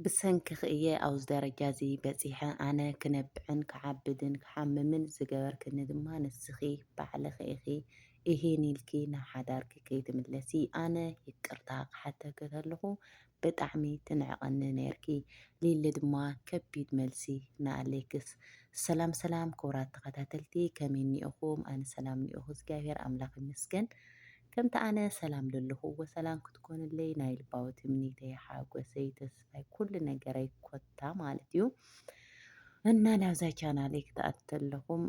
ብሰንክኺ እየ ኣብዚ ደረጃ እዚ በጺሐ፣ ኣነ ክነብዕን ክዓብድን ክሓምምን ዝገበርክኒ ድማ ንስኺ ባዕልኺ ኢኺ፣ እሂን ኢልኪ ናብ ሓዳርኪ ከይትምለሲ ኣነ ይቅርታ ክሓተኪ ከለኹ ብጣዕሚ ትንዕቀኒ ነይርኪ ሊሊ ድማ ከቢድ መልሲ ንኣሌክስ። ሰላም ሰላም ክቡራት ተኸታተልቲ ከመይ እኒኦኹም? ኣነ ሰላም እኒኦኹ እግዚኣብሔር ኣምላኽ ይመስገን። ከምቲ ኣነ ሰላም ለለኹ ወሰላም ክትኮንለይ ናይ ልባዊ ትምኒተይ ሓጎሰይ ተስፋይ ኩሉ ነገረይ ኮታ ማለት እዩ እና ናብዛ ቻናለይ ክትኣቱ ተለኹም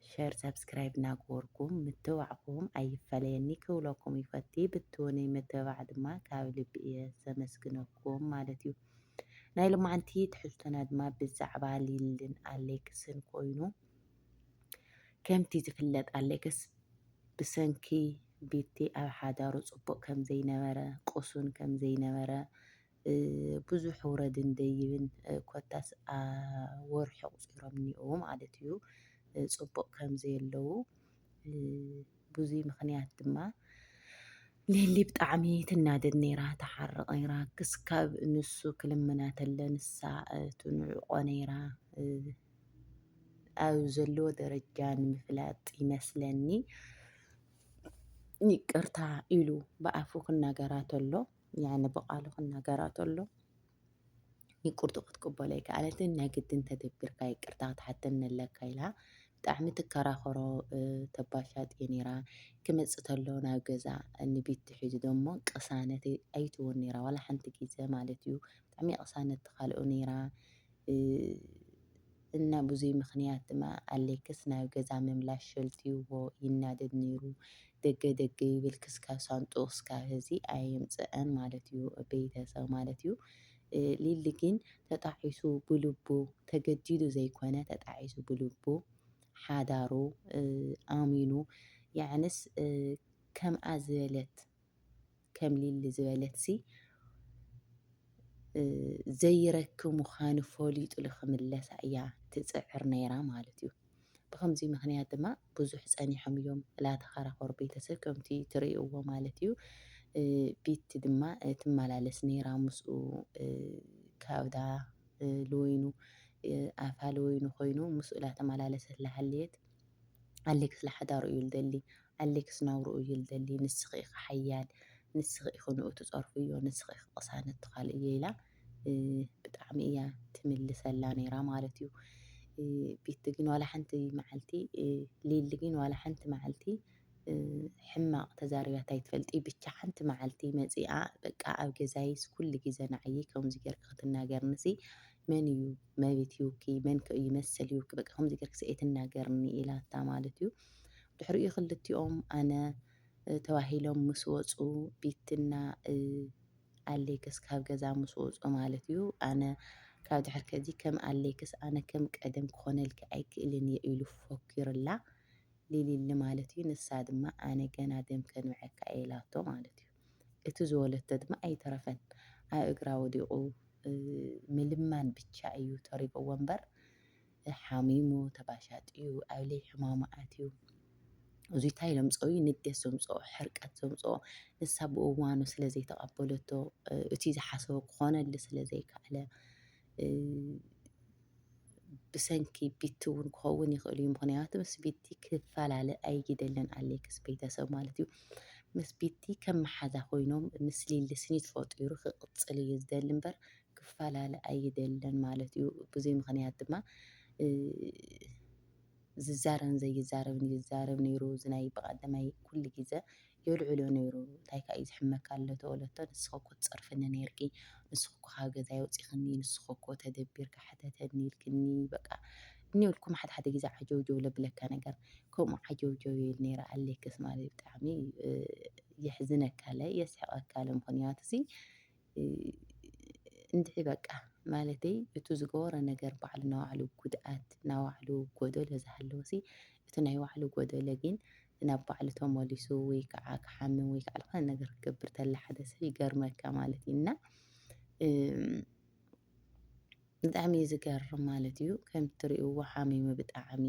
ሸር ሰብስክራይብ እናገበርኩም ምትባዕኹም ኣይፈለየኒ ክብለኩም ይፈቲ ብትወነይ ምትባዕ ድማ ካብ ልቢ እየ ዘመስግነኩም ማለት እዩ ናይ ሎማዓንቲ ትሕዝቶና ድማ ብዛዕባ ሊልን ኣሌክስን ኮይኑ ከምቲ ዝፍለጥ ኣሌክስ ብሰንኪ ቤቲ ኣብ ሓዳሩ ጽቡቕ ከም ዘይነበረ፣ ቅሱን ከም ዘይነበረ፣ ብዙሕ ውረድን ደይብን ኮታስ ወርሒ ኣቑጺሮም እኒኦዉ ማለት እዩ ጽቡቕ ከም ዘየለዉ ብዙይ ምኽንያት ድማ ሊሊ ብጣዕሚ ትናደድ ነይራ ትሓርቕ ነይራ ክስካብ ንሱ ክልምና ተለ ንሳ ትንዕቆ ነይራ ኣብ ዘለዎ ደረጃ ንምፍላጥ ይመስለኒ ይቅርታ ኢሉ ብኣፉ ክናገራ ተሎ ያነ ብቓሉ ክናገራ ተሎ ይቅርቱ ክትቅበሎ ኣይከኣለትን ናይ ግድን ተደቢርካ ይቅርታ ክትሓተኒ ኣለካ ኢላ ብጣዕሚ ትከራኸሮ ተባሻጥ እየ ነይራ ክመፅእ ተሎ ናብ ገዛ ንቢቲ ሒዙ ደሞ ቅሳነት ኣይትወን ነይራ ዋላ ሓንቲ ግዘ ማለት እዩ ብጣዕሚ ቅሳነት ተካልኦ ነይራ እና ብዙይ ምክንያት ድማ ኣሌክስ ናብ ገዛ ምምላሽ ሸልትዩዎ ይናደድ ነይሩ ደገ ደገ ይብል ክስካብ ሳንጡኡ ክስካብ ሀዚ ኣየምፀኣን ማለት እዩ ቤተሰብ ማለት እዩ ሊሊ ግን ተጣዒሱ ብልቡ ተገዲዱ ዘይኮነ ተጣዒሱ ብልቡ ሓዳሩ ኣሚኑ ያዕንስ ከምኣ ዝበለት ከም ሊሊ ዝበለትሲ ዘይረክ ምዃኑ ፈሊጡሉ ክምለሳ እያ ትፅዕር ነይራ ማለት እዩ። ብከምዚ ምክንያት ድማ ብዙሕ ፀኒሖም እዮም ላተኸራኸሩ ቤተሰብ ከምቲ ትርእይዎ ማለት እዩ። ቤቲ ድማ ትመላለስ ነይራ ምስኡ ካብዳ ልወይኑ ኣፋ ልወይኑ ኮይኑ ምስኡ ላተመላለሰት ላሃለየት ኣሌክስ ላሓዳሩ እዩ ልደሊ ኣሌክስ ናብርኡ እዩ ልደሊ ንስኺ ኢኺ ሓያል ንስኺ ኢኺ ንኡ ትጸርፍዮ ንስኺ ኢኺ ቅሳነት ትኻልእዮ ኢላ ብጣዕሚ እያ ትምልሰላ ነይራ ማለት እዩ ቤቲ ግን ዋላ ሓንቲ መዓልቲ ሊሊ ግን ዋላ ሓንቲ መዓልቲ ሕማቕ ተዛሪባት ኣይትፈልጢ ብቻ ሓንቲ መዓልቲ መፂኣ በቃ ኣብ ገዛይስ ኩሉ ግዜ ንዓይ ከምዚ ጌርኪ ክትናገርኒ ሲ መን እዩ መቤት ይውኪ መን ከ እዩ መሰል ይውኪ በቃ ከምዚ ጌርኪ ሲ ኣይትናገርኒ ኢላታ ማለት እዩ ድሕሪኡ ክልቲኦም ኣነ ተባሂሎም ምስ ወጹ ቢትና ኣሌክስ ካብ ገዛ ምስ ወጹ ማለት እዩ ኣነ ካብ ድሕር ከዚ ከም ኣሌክስ ኣነ ከም ቀደም ክኾነልኪ ኣይክእልን እየ ኢሉ ፎኪሩላ ሊሊሊ ማለት እዩ ንሳ ድማ ኣነ ገና ደም ከንብዐካ እየ ኢላቶ ማለት እዩ እቲ ዝወለቶ ድማ ኣይተረፈን ኣብ እግራ ወዲቑ ምልማን ብቻ እዩ ተሪፍዎ እምበር ሓሚሙ ተባሻጥዩ ኣብ ለይ ሕማሙ ኣትዩ እዙይ ታይ ዘምፀኦ እዩ ንዴት ዘምፀኦ ሕርቀት ዘምፀኦ ንሳ ብእዋኑ ስለ ዘይተቐበለቶ እቲ ዝሓሰቦ ክኾነሉ ስለ ዘይከኣለ ብሰንኪ ቢቲ እውን ክኸውን ይኽእል እዩ ምክንያቱ ምስ ቢቲ ክፈላለ ኣይግደለን ኣሌክስ ቤተሰብ ማለት እዩ ምስ ቢቲ ከም መሓዛ ኮይኖም ምስ ሊሊ ስኒት ፈጢሩ ክቕፅል እዩ ዝደሊ እምበር ክፈላለ ኣይደልን ማለት እዩ። ብዙይ ምኽንያት ድማ ዝዛረብን ዘይዛረብን ይዛረብ ነይሩ እዚ ናይ ብቐዳማይ ኩሉ ግዘ የልዕሎ ነይሩ እንታይ ካእ እዩ ዝሕመካ ኣሎ ተበለቶ ንስኺ እኮ ትፀርፍኒ ነይርኪ ንስኺ እኮ ካብ ገዛይ ኣውፂኽኒ ንስኺ እኮ ተደቢርኪ ሕተተኒ ኢልክኒ በቃ እኒኢልኩም ሓደ ሓደ ግዘ ዓጀውጀው ለብለካ ነገር ከምኡ ዓጀውጀው ይብል ነይረ ኣሌክስ ማለት ብጣዕሚ የሕዝነካ ለ የስሕቐካ ለ ምኽንያቱ እዚ እንድዒ በቃ ማለተይ እቱ ዝገበሮ ነገር ባዕሉ ናይ ባዕሉ ጉድኣት ናይ ባዕሉ ጎደሎ ዝሃለወሲ እቲ ናይ ባዕሉ ጎደሎ ግን ናብ ባዕሉ ተመሊሱ ወይ ከዓ ክሓምም ወይ ከዓ ዝኾነ ነገር ክገብር ተላ ሓደ ሰብ ይገርመካ ማለት እዩ እና ብጣዕሚ እዩ ዝገርም ማለት እዩ ከምቲ ትሪእዎ ሓሚሙ ብጣዕሚ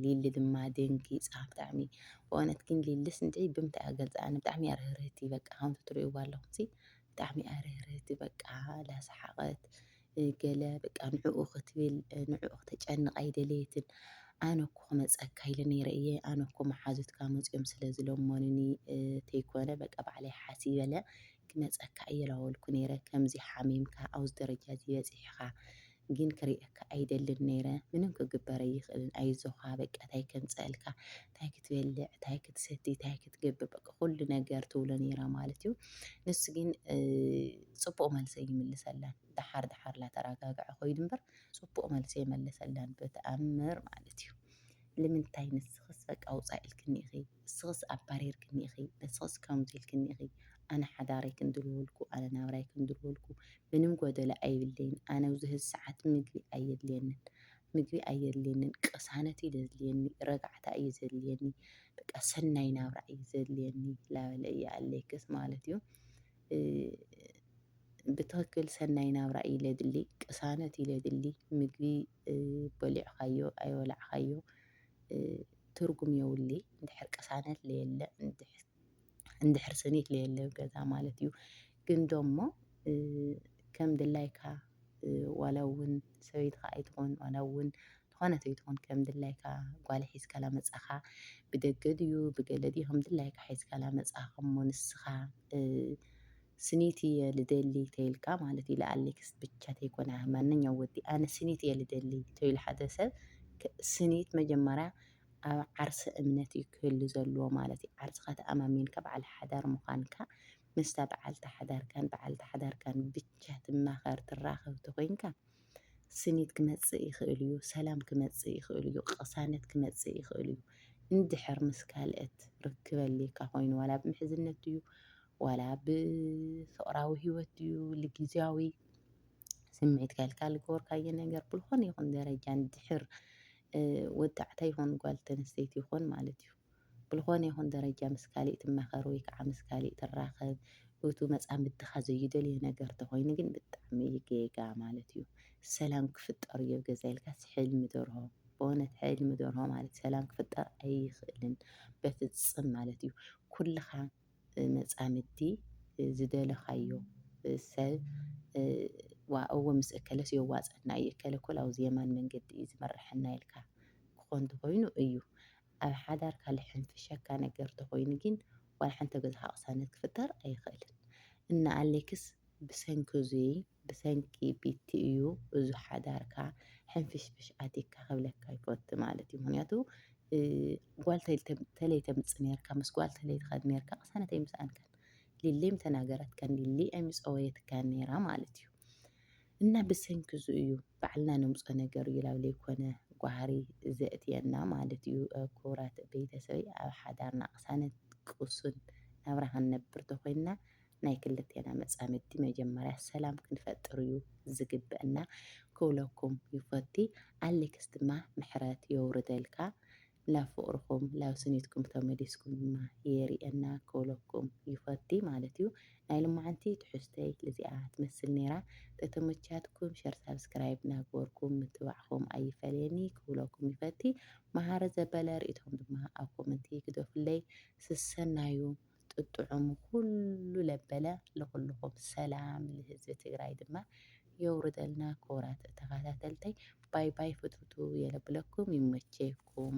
ሊሊ ድማ ደንጊፃ ብጣዕሚ ብእውነት ግን ሊልስ እንታይ ብምንታይ እያ ገልፃ ኣነ ብጣዕሚ እያ ርህርህቲ በቃ ከምቲ ትሪእዎ ኣለኹምሲ ብጣዕሚ እያ ርህርህቲ በቃ ላሰሓቐት ገለ በቃ ንዕኡ ክትብል ንዕኡ ክተጨንቕ ኣይደለየትን ኣነ እኮ ክመፀካ ኢለ ነይረ እየ ኣነ እኮ መሓዙትካ መፅኦም ስለ ዝለመኑኒ ተይኮነ በቃ ባዕለይ ሓሲበለ ክመጸካ ኣየላወልኩ ነይረ ከምዚ ሓሚምካ ኣብዚ ደረጃ እዚ በጺሕኻ ግን ክርእየካ ኣይደልን ነይረ ምንም ክግበር ኣይኽእልን ኣይዞኻ በቃ ታይ ከምጸእልካ ታይ ክትበልዕ ታይ ክትሰቲ ታይ ክትገብር በቃ ኩሉ ነገር ትብሎ ነይራ ማለት እዩ ንሱ ግን ጽቡቕ መልሰ ይምልሰላን ደሓር ደሓር ላተረጋግዐ ኮይኑ እምበር ጽቡቕ መልሰ ይመልሰላን በተኣምር ማለት እዩ ልምንታይ ንስኽስ በቃ ውጻእ ኢልክኒ ኢኺ ንስኽስ ኣባሪርክኒ ኢኺ ንስኽስ ከምዚ ኢልክኒ ኢኺ ኣነ ሓዳረይ ክንድልወልኩ ኣነ ናብራይ ክንድልወልኩ ምንም ጎደሎ ኣይብለይን ኣነ ብዙ ሰዓት ምግቢ ኣየድልየንን ምግቢ ኣየድልየንን ቅሳነት እዩ ዘድልየኒ ረጋዕታ እዩ ዘድልየኒ በቃ ሰናይ ናብራ እዩ ዘድልየኒ ላበለ እዩ ኣለይክስ ማለት እዩ ብትኽክል ሰናይ ናብራ እዩ ለድሊ ቅሳነት እዩ ለድሊ ምግቢ በሊዕካዮ ኣይበላዕካዮ ትርጉም የውሊ እንድሕር ቅሳነት ለየለ እንድሕር ስኒት ለየለ ገዛ ማለት እዩ። ግን ደሞ ከም ድላይካ ዋላ እውን ሰበይትኻ ኣይትኾን ዋላ እውን ዝኾነት ኣይትኾን ከም ድላይካ ጓል ሒዝካ ላመጻኻ ብደገ ድዩ ብገለ ድዩ ከም ድላይካ ሒዝካ ላመጻኻ እሞ ንስኻ ስኒት እየ ልደሊ ተይልካ ማለት እዩ ለኣሌክስ ብቻ ተይኮነ ማንኛው ወዲ ኣነ ስኒት እየ ልደሊ ተይሉ ሓደ ሰብ ስኒት መጀመርያ ኣብ ዓርሰ እምነት እዩ ክህሉ ዘለዎ ማለት እዩ ዓርስኻ ተኣማሚንካ በዓል ሓዳር ምዃንካ ምስታ በዓልቲ ሓዳርካን በዓልቲ ሓዳርካን ብቻ ትማኸር ትራኸብ ተኾይንካ ስኒት ክመጽእ ይኽእል እዩ፣ ሰላም ክመጽእ ይኽእል እዩ፣ ቅሳነት ክመጽእ ይኽእል እዩ። እንድሕር ምስ ካልእት ርክብ ኣልካ ኮይኑ ዋላ ብምሕዝነት እዩ ዋላ ብ ፍቅራዊ ሂወት ድዩ ል ግዝያዊ ስምዒትካ ኢልካ ዝገበርካዮ ነገር ብዝኾነ ይኹን ደረጃ ንድሕር ወዳዕታ ይኹን ጓል ተንስተይቲ ይኹን ማለት እዩ ብዝኾነ ይኹን ደረጃ ምስ ካሊእ ትማኸር ወይ ከዓ ምስ ካሊእ ትራኸብ እቱ መፃምድትኻ ዘይደልዮ ነገር ተኾይኑ ግን ብጣዕሚ እዩ ጌጋ ማለት እዩ ሰላም ክፍጠር እዩ ኣብ ገዛ ኢልካስ ሕልሚ ደርሆ በእውነት ሕልሚ ደርሆ ማለት ሰላም ክፍጠር ኣይኽእልን በፍፅም ማለት እዩ ኩልኻ መጻምድቲ ዝደለኻዮ ሰብ ዋእ እወ ምስ እከለስ የዋጽኣና እዩ እከለ እኮ ላብ የማን መንገዲ እዩ ዝመርሐና ኢልካ ክኾን ተኾይኑ እዩ ኣብ ሓዳርካ ልሕንፍሸካ ነገር ተኾይኑ ጊን ዋላ ሓንቲ ኣብ ገዛኻ ቅሳነት ክፍጠር ኣይኽእልን እና ኣሌክስ ብሰንኪ እዙይ ብሰንኪ ቢቲ እዩ እዙ ሓዳርካ ሕንፍሽፍሽ ኣቲካ ክብለካ ይፈቱ ማለት እዩ ምክንያቱ ጓል ተለይ ተምፅ ነርካ ምስ ጓል ተለይ ትኸድ ነርካ ቅሳነት ኣይምስኣንካን ሊሊም ተናገረትካ ሊሊ ኣይምፀወየትካን ነራ ማለት እዩ እና ብሰንኪ እዙ እዩ ባዕልና ነምፆ ነገር እዩ ላብ ዘይኮነ ጓህሪ ዘእትየና ማለት እዩ ክቡራት ቤተሰበይ ኣብ ሓዳርና ቅሳነት ቅሱን ናብራ ክንነብር ተኮይንና ናይ ክልቴና መጻምድቲ መጀመርያ ሰላም ክንፈጥር እዩ ዝግበእና ክብለኩም ይፎቲ ኣሌክስ ድማ ምሕረት የውርደልካ ናብ ፍቅርኩም ላብ ስኒትኩም ተመሊስኩም ድማ የሪኤና ክብለኩም ይፎቲ ማለት እዩ ናይ ልማዓንቲ ትሕዝቶይ እዚኣ ትመስል ኔራ ተተመቻትኩም ሸር ሳብስክራይብ ናግበርኩም ምትባዕኩም ኣይፈለየኒ ክብለኩም ይፈቲ ማሃረ ዘበለ ሪኢቶኩም ድማ ኣብ ኮመንቲ ግደፉለይ ስሰናዩ ብ ጥጥዑሙ ኩሉ ለበለ ልኩልኩም ሰላም ልህዝቢ ትግራይ ድማ የውርደልና ክቡራት ተካታተልተይ ባይ ባይ ፍትውትው የለብለኩም ይመቸኩም።